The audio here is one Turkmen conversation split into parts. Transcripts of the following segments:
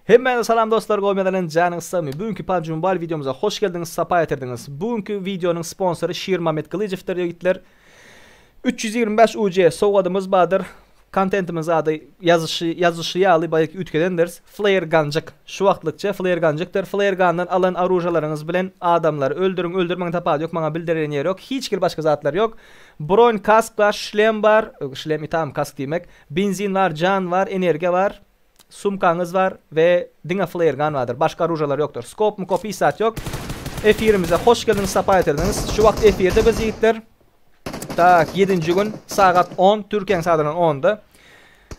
Hemmäňize salam dostlar gowy mezelenip janyňyz sagmy bu günki PUBG Mobile wideomyza hoş geldiňiz sapa getirdiňiz bu günki wideonyň sponsory Şirmamet Gylyjewdir ýigitler 325 UC sowgadymyz bardyr kontentimiz ady ýazyşy ýazyşy ýaly baýaky üýtgedendiris Flare Gunjyk şu wagtlykça Flare Gunjykdyr Flare Gundan alan aružalaryňyz bilen adamlary öldüriň öldürmeň tapawudy ýok maňa bildirýän ýeri ýok hiç hili başga zatlar ýok Broň Kask bar Şlem bar Şlem itam Kask diýmek Benzin bar, jan bar, energiýa bar, sumkaňyz bar we diňe flairgan bardyr. Başga oružalar ýokdur. Skop-mukop hiç zat ýok. Efirimize hoş geldiňiz, sapa getirdiňiz. Şu wagt efirde biz ýigitler. Tak, ýedinji gün, sagat on, Türkiýäň sadynyň ony-da.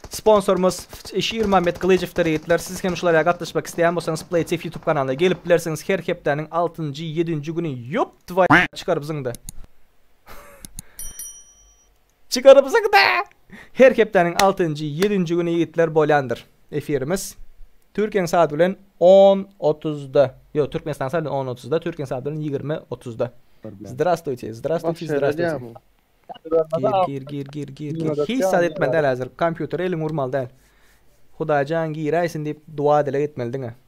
Sponsorymyz Şirmammet Gylyjowdyr ýigitler. Siz hem şulara gatnaşmak isleýän bolsaňyz, PlayTiff ýutub kanalyna gelip bilersiňiz. Her hepdäniň altynjy, ýedinji güni, ýop twoýu, çykar biziň-de. Çykarypsyňda! Her hepdäniň altynjy, ýedinji güni ýigitler bolýandyr efirimiz. Türkiýäň saat bilen on otuzda. Ýok, Türkmenistanyň saat bilen on otuzda, Türkiýäň saat bilen ýigrimi otuzda. Zdrastuyte, zdrastuyte, zdrastuyte. Gir, gir, gir, gir, gir, gir. Hiç zat etmeli däl häzir. Kompýutere eliňi urmaly däl. Hudaýjan giräýsin diýip, duwa-dileg etmeli diňe.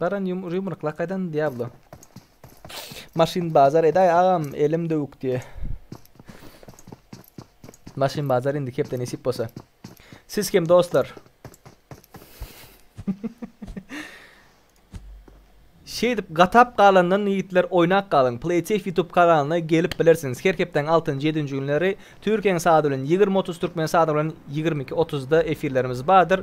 Baran ýumruk lakaýdan Diablo. Maşyn bazar edaý agam elim döwük diýe. Maşyn bazar indi kepde nesip bolsa. Siz kim dostlar? Şeýdip gatap galandan ýigitler oýnak galyň Playtech YouTube kanalyna gelip bilersiňiz her hepdäň altynjy ýedinji günleri türkiýäň sady bilen ýigrimi otuz türkmen sady bilen ýigrimi iki otuzda efirlerimiz bardyr.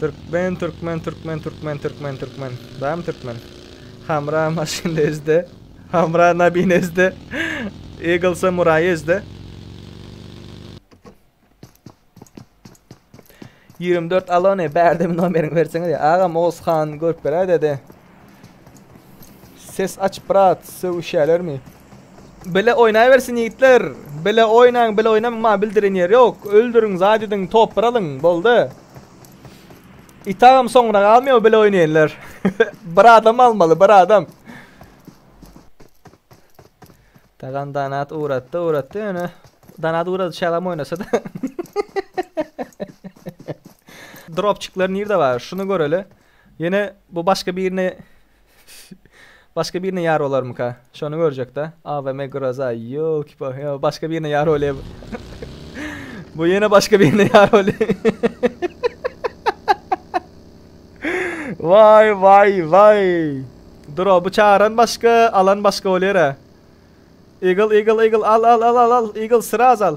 Türkmen Türkmen Türkmen Türkmen Türkmen Türkmen Bam Türkmen Hamra maşyn ezde Hamra nabin ezde Eagle samuray ezde 24 alone bärde bir nomeriňi berseňiz ya agam Oğuzhan görüp beräýdedi Ses aç brat sögüşýälermi. Bile oýnaýbersin ýigitler. Bile oýnaň, bile oýnamaň maňa bildiren ýeri ýok. Öldüriň, zat ediň, top bir alyň. Boldy. Itagam soňra galmaýar bile oýnaýanlar. bir adam almaly, bir adam. Tagan Danat uğrattı uğrattı yani Danat uğradı şalam oynasa da. Dropçikler nerede var? Şunu göreli. Ýöne bu başga birine başga birine ýar bolarmyka? Şony görjek-dä. AVM Groza, ýolki-pa, ýa başga birine ýar bolýar bu. Bu ýene başga birine ýar bolýar. Waý, waý, waý. Dura, bu çaran başga, alan başga bolýar-a. Eagle, eagle, eagle, al, al, al, al, al, eagle, sraz al.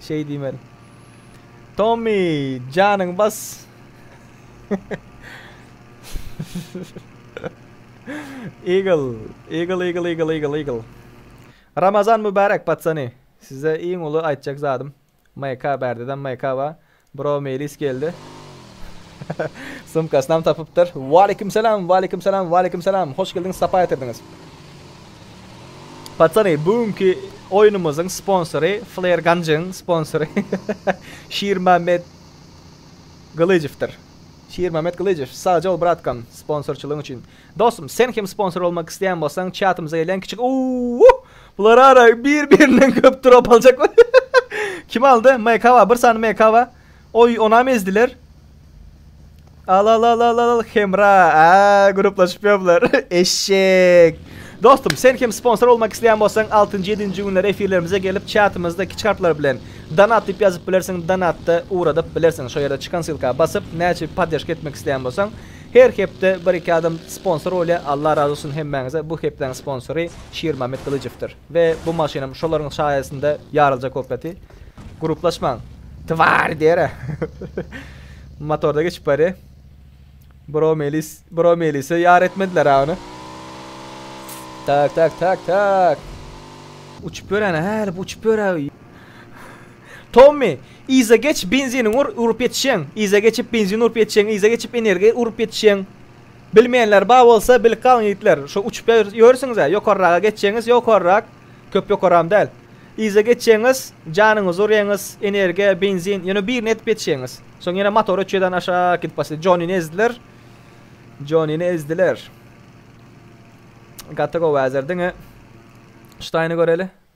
Şeý diýmeli. Tommy, janyňy bas. Eagle, Eagle, Eagle, Eagle, Eagle, Eagle. Ramazan mübärek patsany. Size iň uly aýtjak zadym. MK bärdeden MK ba. Bro Meýlis geldi. Sumkasynam tapypdyr. Waleýkim salam, waleýkim salam, waleýkim salam. Hoş geldiňiz, sapa getirdiňiz. Patsany, bu günki oýnumyzyň sponsory Flair Ganjyň sponsory Şirmämmet Gylyjewdir. Şirmämmet Gylyjew, sagja bol bratkam, sponsorçylygyň üçin. Dostum sen hem sponsor bolmak isteýän bolsaň çatymyza gelýän kiçik uuuh bular ara bir birinden köp drop aljaklar kim aldy mkba bir sany mkba oý onam ezdiler al al al al al hemra aa gruplaşyp ýörler eşşek Dostum sen hem sponsor bolmak isteýän bolsaň 6-njy 7-nji günler efirlerimize gelip çatymyzda kiçik harplar bilen donat diýip ýazyp bilersiň donatda ugradyp bilersiň şo ýerde çykan sylka basyp näçe podderžka etmek isteýän bolsaň Her hepde bir iki adam sponsor bolýar Allah razy olsun hemmäňize bu hepdäň sponsory Şirmamet Gylyjowdyr we bu maşynam şolaryň saýasynda ýarylja kopleti Gruplaşmaň Twary diýerä motorda geçip barýa Bro Melis Bro Melise ýar etmedilerä ony Tak tak tak tak uçup ýöräne hä bu uçup ýörä. Tommy, yza geç benziniňi ur, urup ýetişýäň, yza geçip benzin urup ýetişýäň, yza geçip energiýa urup ýetişýäň. Bilmeýänler bar bolsa bilip galyň ýigitler, şo uçup ýörsüňiz-ä, ýokarraga geçýäňiz, ýokarrak, köp ýokaram däl. Yza geçýäňiz, janyňyzy urýaňyz, energiýa, benzin, ýöne birini ýetip ýetişýäňiz. Soň ýene motor öçýärden aşak gidip başlaýar. Jonini ezdiler. Jonini ezdiler. Gaty gowy äzer diňe. Ştaýny göreli.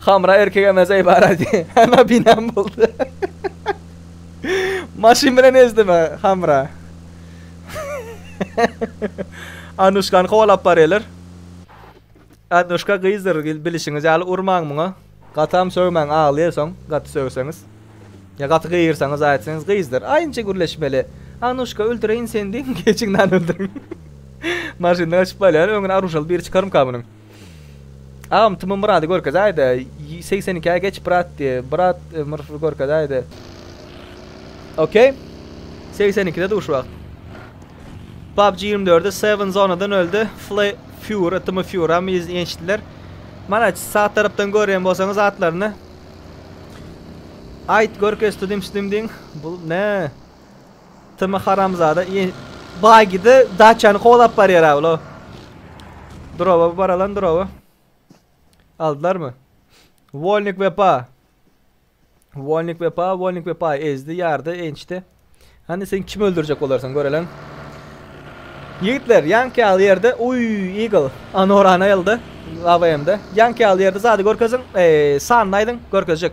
Hamra erkek emes eý barady. Ana binam boldy. Maşyn bilen ezdimi Hamra. Anuşkany kowalap barylar. Anuşka gyzdyr bilişiňiz ýaly urmaň muňa. Gatam sögmäň aglaýar soň gaty sögseňiz. Ýa gaty gygyrsaňyz aýtsaňyz gyzdyr. Aýnje gürleşmeli. Anuşka öldüreýin seni diýiň geçiňden öldüriň. Maşyndan gaçyp barýar öňüne aruşaly biri çykarmyka munyň. Agam tm myrady görkezäýdä segsen ikä geç brat diýe brat mrfy görkezäýdä ok segsen ikide dur şu wagt PUBG ýigrimi dördi seven zonadan öldi fly fury tm furam ýençdiler mana sag tarapdan görýän bolsaňyz atlaryny aýt görkez tudimsdimdiň bul ne Tm haramzada i bagide daçany kowlap barýar ha ula. Drowa baralan drowa. Aldylarmy? Wolnik wepa. Wolnik wepa, Wolnik wepa ezdi, ýardy, ençdi. Hany sen kim öldürjek bolarsan görelen. Ýigitler, ýanki al ýerde, uy, Eagle, Anorana elde, AVM-de. Ýanki al ýerde zady görkeziň, eee, sanyny aýdyň, görkezjek.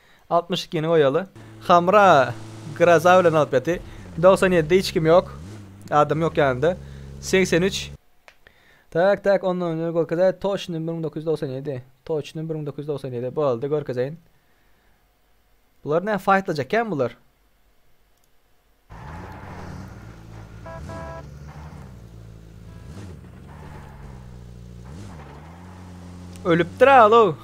Altmyş ikini goýaly. Hamra graza bilen alyp ýaty. Dogsan ýedi hiç kim ýok. Adam ýok ýanynda. Segsen üç. Tak tak ondan öňe görkezäý toçny bir müň dokuz ýüz dogsan ýedi. Toçny bir müň dokuz ýüz dogsan ýedi. Boldy görkezeýin. Bular näme faýtlajak kän bular. Ölüpdir alo.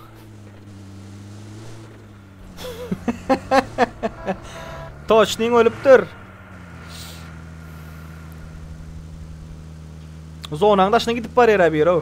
Toçning ölüpdir. Zonanyň daşyna gidip barýar abi, ýero.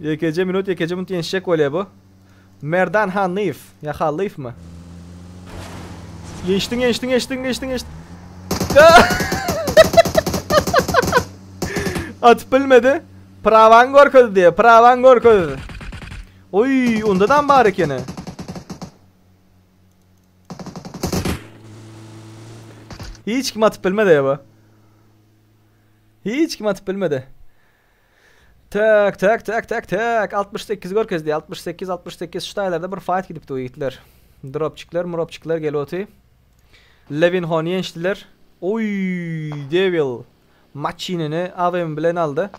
Ýekeje minut ýekeje minut ýenişjek bolýa bu. Merdan Hanlyýew ýa Hallyýewmi? Geçdiň geçdiň geçdiň geçdiň geçdiň. Atyp bilmedi. Prawan görkezdi. Prawan görkezdi. Oy, onda da bar ekeni. Hiç kim atyp bilmedi ya bu. Hiç kim atyp bilmedi. Tak tak tak tak tak altmyş sekiz görkezdi altmyş sekiz altmyş sekiz şu taýlarda bir faýt gidipdi bu ýigitler dropçikler muropçikler geloty Levinhony ýeňşdiler oý devil maçinini avm bilen aldy.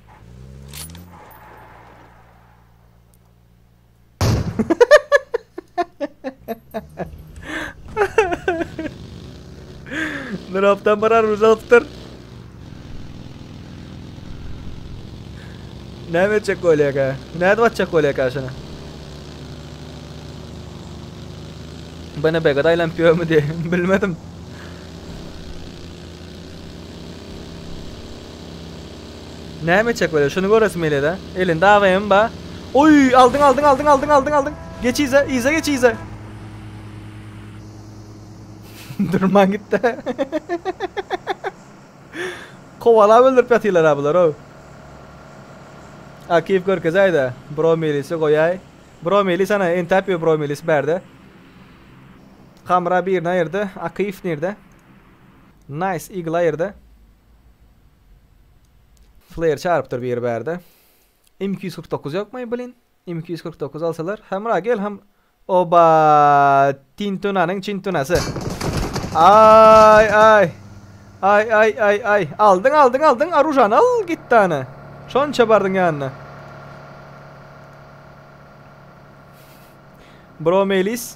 Nur haftan barar ruz alypdyr. Näme etjek bolýaka? Nädip atjak bolýaka şuna? Bana begada aylanıp yörmü diye bilmedim. Näme etjek welin şuny göresim gelýädä. Elinde AVM bar. Oý aldyň aldyň aldyň aldyň aldyň aldyň. Geç yza yza geç yza. Durman gitdi. Kowalap öldürip ýatyrlar ha bular ow. Akif görkezäýdä. Bro milisi goýaý. Bro milis ana entäp ýör bro milis bärde. Hamra birini aýyrdy. Akif nirde? Nice Eagle aýyrdy. Flare çarypdyr biri bärde. M iki ýüz kyrk dokuz ýokmy blin? M iki ýüz kyrk dokuz alsalar. Hemra gel hem. Oba! Tintunanyň çintunasy. Ay ay. Ay ay ay ay. Aldyň aldyň aldyň arujan al git dana. Şonça bardyň ýanyna. Bro Melis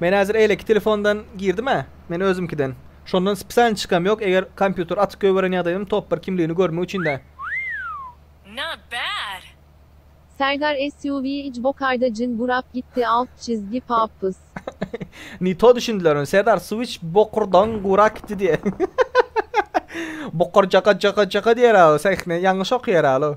Men häzir eýleki telefondan girdim-ä, men özümkiden. Şondan spesialny çykam ýok, eger kompýuter açyk goýberen ýagdaýym top bir kimligini görmek üçin-dä. Not bad. Serdar SUV ic bokaýda jyn gurap gitdi alt çizgi papys. Ne to düşündiler ony Serdar Switch bokurdaň gura kitdi diýe. Bokur jaka jaka jaka diýer alo sähne ýalňyş okýar alo.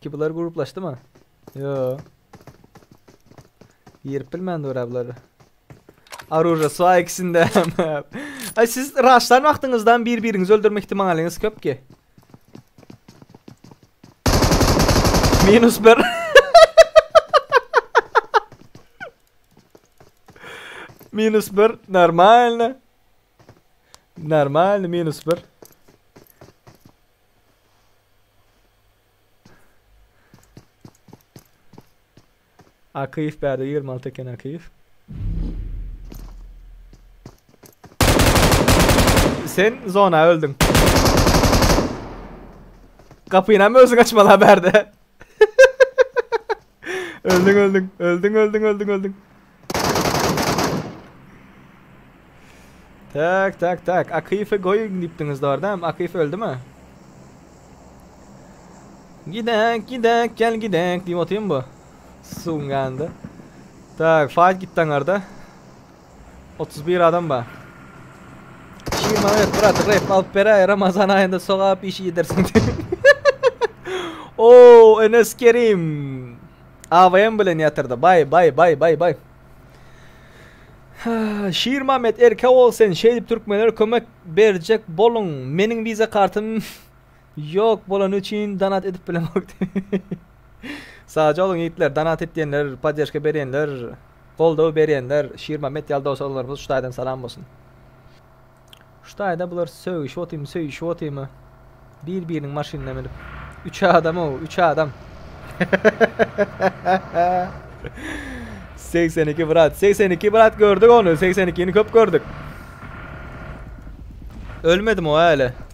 Ki bular gruplaşdymy? Ýo. Girip bilmän dura bular. Aruja swa ikisinde. Ay siz raşlan wagtyňyzdan bir-biriňizi öldürme ihtimalyňyz köp ki. Minus 1. Minus 1 normalno. Normalny minus bir. Akyýew bärde ýigrimi alty eken Akyýew. Sen zona öldüň. Gapynam özüň açmaly-a bärde. öldüň öldüň. Öldüň öldüň öldüň öldüň. Tak tak tak. Akif'i goýun diýipdiňiz dogrudan. Akif öldümi? Gidek, gidek, gel gidek diýip otyrmy bu? Suwuň ýanynda. Tak, fight gitdi aňarda. Otuz bir adam bar. Şiir Mehmet brat rap alıp beräýe Ramazan aýynda sogap işi ýedersiň. Oo Enes Kerim. AVM bilen ýatyrdy. Bay bay bay bay bay. Şiir Mehmet erkek ol sen şeýdip türkmenlere kömek berjek boluň. Meniň wiza kartym Ýok bolany üçin donat edip bilemok diýip. Sagja boluň ýigitler donat etýänler poddežka berýänler goldaw berýänler Şirmammet ýaly dowşaglarymyz şu taýdan salam bolsun. Şu taýda bular sögüşip otymy söýüşip otymy bir biriniň maşynyna münüp üç adam ow üç adam Segsen iki brat segsen iki brat gördük ony segsen ikini köp gördük Ölmedim o äle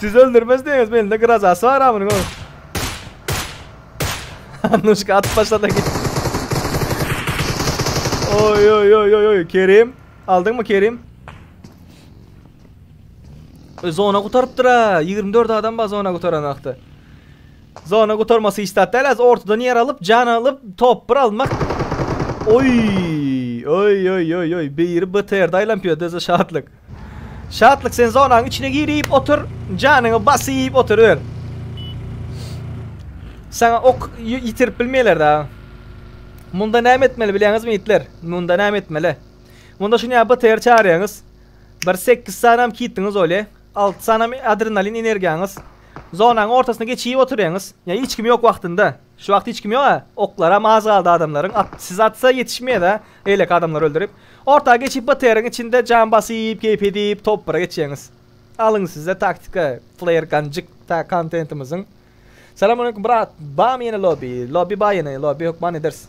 Siz öldürmez diýeňiz mende grazasy bar amynyň oý. Annuşka at başlada git. Oy oy oy oy oy Kerim. Aldın mı Kerim? E, zona kurtarıptır ha. 24 adam var zona kurtaran akta. Zona kurtarması hiç tat değil. Az ortadan yer alıp can alıp top bir almak. Oy oy oy oy oy. Biri BTR'da aylanpıyor. Döze şatlık. Şatlyk sen zonaň içine gir iýip otur, janyňy bas iýip otur ör. Saňa ok ýitirip bilmeýler da. Munda näme etmeli bilýäňizmi ýitler? Munda näme etmeli? Munda şuny ýa BTR çagyrýaňyz. Bir 8 sanam kitdiňiz bolýa. 6 sanam adrenalin energiýaňyz. Zonaň ortasyna geçip oturýaňyz. Ýa hiç kim ýok wagtynda. Şu wagt hiç kim ýok-a. Oklaram az galdy adamlaryň. At, siz atsa ýetişmeýäs-ä. Beýleki adamlary öldürip. Orta geçip BTR-iň içinde jan basyp, keýp edip, topbara geçjegiňiz. Alyň size taktika, flair ganjyk ta kontentimiziň. Salam aleýkum brat, barmy ýene lobby? Lobby bar ýene, lobby hökman ederis.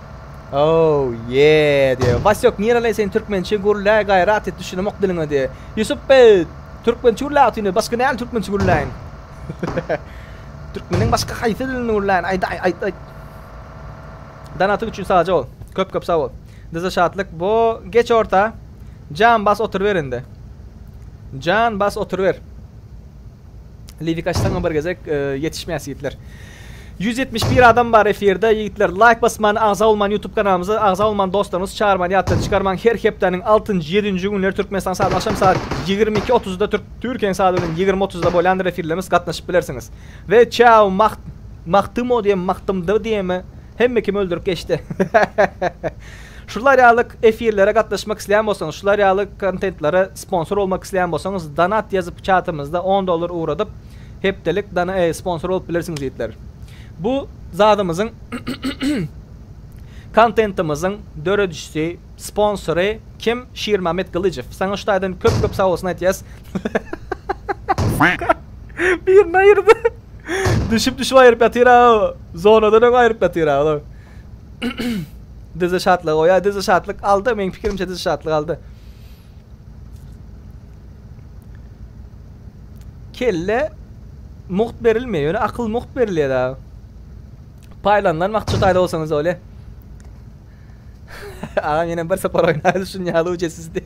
Ow ýee diýip. Wasýok nirelä sen türkmençe gürlä gaýrat et düşünemok diliňe diýip. Ýusup beý türkmençe gürlä otyryn başga näl türkmençe gürläýin. Türkmeniň başga haýsy dilinde gürläýin aýdaý aýt aýt. Danatyň üçin saja bol. Köp köp sagbol. Dyza şatlyk bo geç orta. Jan bas oturyber indi. Jan bas oturyber. Liwik açsaňam bir gezek e, ýetişmeýäs ýigitler. 171 adam bar efirde ýigitler. Laýk basman, agza bolman YouTube kanalymyza, agza bolman dostlaryňyz çağırman ýatdan çykarman. Her hepdäniň 6-njy, 7-nji günleri Türkmenistan saat akşam saat 22:30-da Türk Türkiýe saat bilen 20:30-da bolýandyr efirlerimiz gatnaşyp bilersiňiz. Ve çao maht mahtymo diýem, mahtymdo diýemi hemme kim öldürip geçdi. Şular ýaly efirlere gatnaşmak isleýän bolsaňyz, şular ýaly kontentlere sponsor bolmak isleýän bolsaňyz, donat ýazyp çatymyzda on dollar ugradyp, hepdelik sponsor bolup bilersiňiz ýigitler. Bu zadymyzyň kontentimiziň döredijisi, sponsory kim? Şirmamet Gylyjow. Saňa Hudaýdan köp köp sag bolsun aýtýas. Suka. Birini aýyrdy. Düşüp düşüp aýryp ýatyr-a. Zonadan öň aýryp ýatyr-a. Dizi şatlyk goýa, dizi şatlyk aldy. Meň pikirimçe dizi şatlyk aldy. Kelle mugt berilmeýär, ýöne akyl mugt berilýär ha. Paýlandan wagt şu taýda bolsaňyz öyle. Agam ýene bir sapar oýnar şun ýaly ucesiz diý.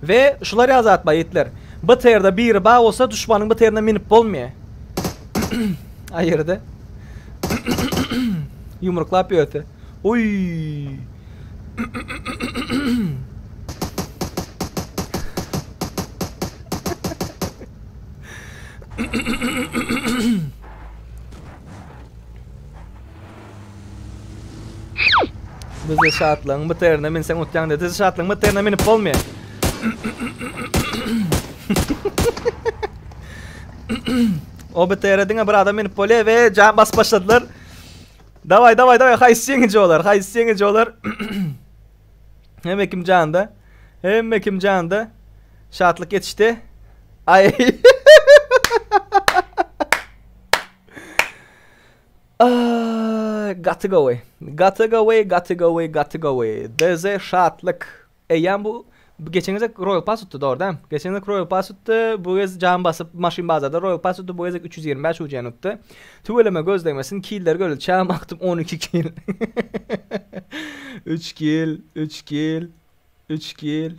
We şular ya zat baitler. BTRda biri bar bolsa duşmanyň BTRine minip bolmaýar. A ýerde. Ýumruklap ýörse. Uýy. Bize şatlygyň biterine minseň utýaň de. Dizi şatlygyň biterine minip bolmaýar. o bitere diňe bir adam minip bolýar we jan basyp başladylar. Daway daway daway haýsy ýeňiji olar? Haýsy ýeňiji olar? Hemme kim janda. Hemme kim janda. Şatlyk geçişdi. Ay. Aaayyy gaty gowy gaty gowy gaty gowy gaty gowy DZ Şatlyk eýýäm bu geçen gezek Royal Pass utdy dogry däm geçen gezek Royal Pass utdy bu gez jan basyp maşyn bazarda Royal Pass utdy bu gezek üç ýüz ýigrimi bäş UC-ni utdy tüweleme göz degmesin killer göl çam akdyp on iki kill üç kill üç kill üç kill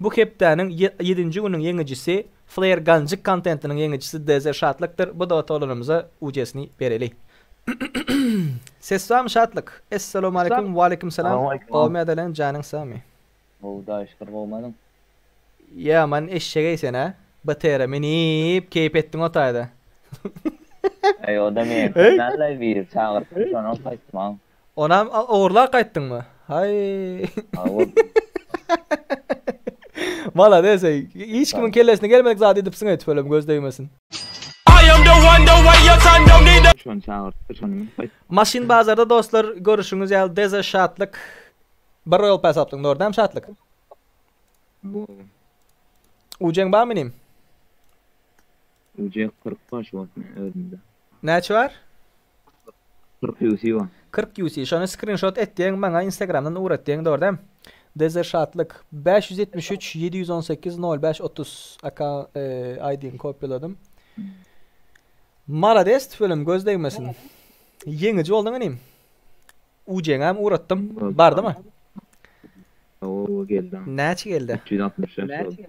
Bu hepdäniň ýedinji günüň ýeňijisi Flair Ganjik kontentiniň ýeňijisi DZ Şatlykdyr bu doga tolanymyza ucesini bereli. Ses barmy Şatlyk? Essalawmaleýkum Waleýkim salam Gowymy adelen janyň sagmy? Gowy daýy şükür gowymyň? Ýa man eşşegeý sen a BTR minip keýp etdiň o taýda. Eý o da men sen allaý bir çagyrypdyň şonam gaýtmaň. Onam ogurlap gaýtdyňmy? Haý. Ha bol. Malades eý. Hiç kimiň kellesine gelmedik zady edipsiň eý tüpelem göz degmesin. Şony çagyrtdy şony minip gaýt. Maşyn bazarda dostlar görüşüňiz ýaly deze şatlyk bir royal pass alypsyň dogry dämi şatlyk? Ucen barmy inim? Uje kyrk baş bor men özümde. Näçe bar? Kyrk UC bar. Kyrk UC şony skrinşot et diýeň maňa instagramdan ugrat diýeň dogry däm. Dezzer Şatlyk. Bäş ýüz ýetmiş üç, ýedi ýüz on sekiz, nol bäş, otuz akaunt aýdyny kopýaladym. Malades tüweleme göz degmesin. Ýeňiji bolduň inim. Ujeňäm ugratdym. Bardymy? Hawa geldi. Näçe geldi? Üç ýüz altmyş dört boldy.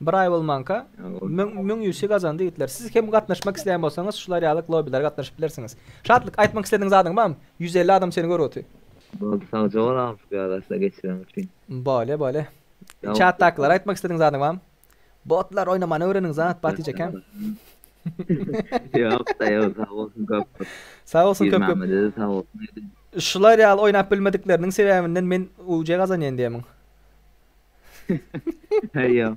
Bir aý bolmanka müň ýüzi gazandy ýigitler. Siz hem gatnaşmak isleýän bolsaňyz şular ýaly globilere gatnaşyp bilersiňiz. Şatlyk, aýtmak islediň zadyň barmy? Ýüz elli adam seni görüp otyr. Boldy sagja bol agam şu pyýadasda geçireň üçin. Bolýa bolýa. Çatdakylara aýtmak islediň zadyň barmy? Botlar oýnamany öwreniň zat Batyja kän. Ýokda ýok sag bolsun köp köp. Sag bolsun köp köp. Piýrmämmede-de sag bolsun aýdyň. Şular ýaly oýnap bilmedikleriniň sebäbinden men UC gazanýan diýemiň. Eýýäm.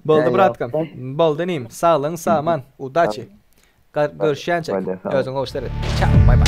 Boldy Eýýäm. bratkam. Boldy inim. Saglygyň saman. Udaçi. Gar- Görüşýänçä. Hadi, sag ol. Özüňe hoş seret. Çao. Bay bay.